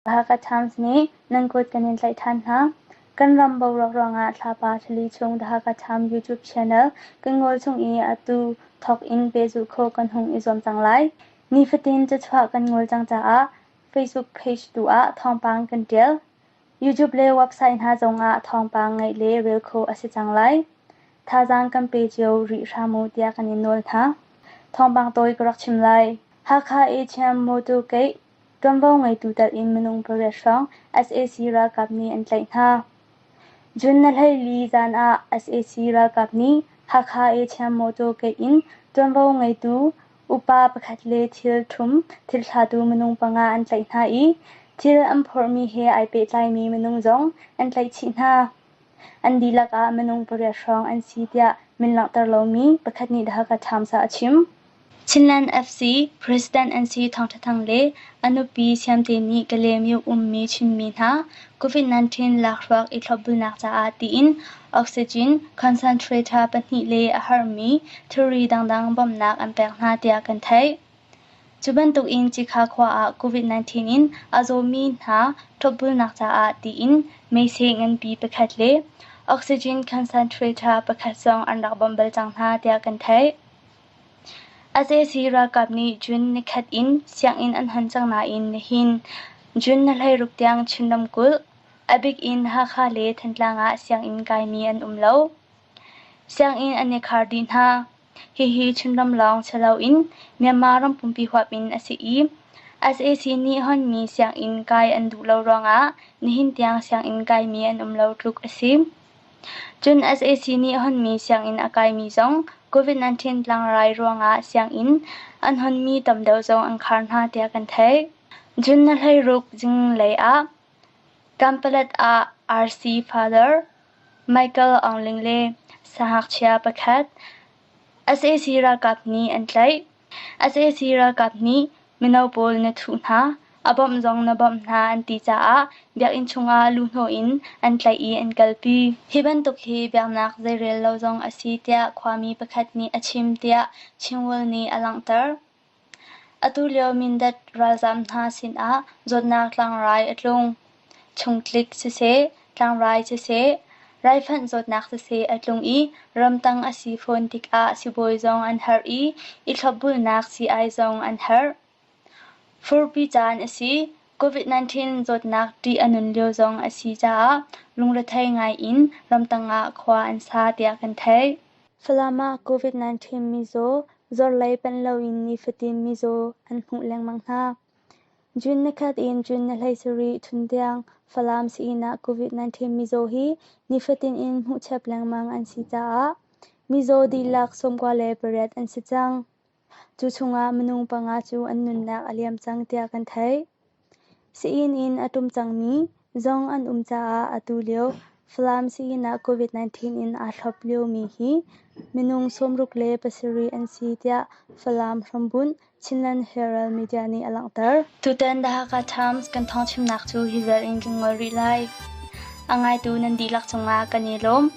Baga Times nih nan kut kan in tlaih ṭhan hna. Kan ram boruak ruangah thlapa ṭhali chung The Hakha Times YouTube channel kan ngol chung i atu thawk in pehzulh khawh kan hung i zuam cang lai. Nifatin cachuah kan ngol cang caah Facebook page tu ah thawngpang kan ṭial. YouTube le website hna zongah thawngpang ngeih le rel khawh a si cang lai. Thazaang kan pe cio rih hram u tiah kan in nawl hna. Thawngpang tawi ka rak chim lai. Hakha ACM motor gate ṭuanvo ngeitu telh in minung pariat hrawng sac ralkap nih an tlaih hna. June na hleili zan ah sac ralkap nih Hakha ACM motor gate in ṭuanvo ngeitu Upa pakhat le thilthum thilthlatu minung panga an tlaih hna i thil an phorhmi he ai pehtlaimi minung zong an tlaih chih hna. An dihlak ah minung pariat hrawng an si tiah min langhter lomi pakhat nih The Hakha Times ah a chim. Chinland FC president an si thawngṭha thang le a nupi siamte nih Kalay Myuk ummi Chinmi hna COVID-19 lakhruak i thlopbulnak caah tiin oxygen concentrator pahnih le a harmi thilri dangdang bawmhnak an pek hna tiah kan theih. Cu bantukin Cikha khua ah COVID-19 in a zawmi hna thlopbulnak caah tiin meisei nganpi pakhat le oxygen concentrator pakhat zong an rak bawmh bal cang hna tiah kan theih. Sac ralkap nih June nikhat in sianginn an hon cang nain nihin June ni hleiruk tiang Chin ramkulh, a bik in Hakha le Thantlang ah sianginn kaimi an um lo. Sianginn an i khar dih hna. Hihi Chinram lawng si loin Myanmar ram pumpi huap in a si i sac nih honmi sianginn kai an duh lo ruangah nihin tiang sianginn kaimi an um lo tluk a si. Cun sac nih honmi sianginn a kaimi zong COVID-19 tlangrai ruangah sianginn an honmi tam deuh zong an khar hna tiah kan theih. Cun na hleiruk zinglei ah Kanpalet ah RC father Michael Aung Ling le sahngakchia pakhat sac ralkap nih an tlaih. Sac ralkap nih mino pawl na thuh hna, a bawmh zong na bawmh hna an ti caah biakinn chungah luhhnawh in an tlaih i an kalpi. Hi bantuk hi biaknak zeirel lo zong a si tiah khuami pakhat nih a chim tiah Chingwell nih a langhter. Atu lio Mindat ralzaam hna sinah zawtnak tlangrai a tlung. chungtlik siseh, tlangrai siseh, raifanh zawtnak siseh a tlung i ramtang a si fawn tikah sibawi zong an herh i i thlopbulnak sii-ai zong an herh. Furpi caan a si. COVID-19 zawtnak ṭih a nun lio zong a si caah lungrethei ngaiin ramtang ah khua an sa tiah kan theih. Falam ah COVID-19 mizaw zorlei panh loin nifatin mizaw an hmuh lengmang hna. June nikhat in June ni hleisarih chun tiang Falam sii-inn ah COVID-19 mizaw hi nifatin in hmuhchep lengmang an si caah mizaw dihlak sawmkua le pariat an si cang. Cu chungah minung panga cu an nunnak a liam cang tiah kan theih. Sii-inn in a ṭum cangmi zong an um caah atu lio Falam sii-inn ah COVID-19 in aa thlop liomi hi minung sawmruk le pasarih an si tiah Falam hrambunh Chinland Herald media nih a langhter. Tutan The Hakha Times kan thawngchimnak cu hi vel in kan ngol rih lai. A ngaitu nan dihlak cungah kan i lawm.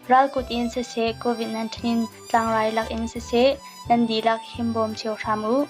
Ral kut in siseh COVID-19 tlangrai lak in siseh nan dihlak himbawm cio hram u.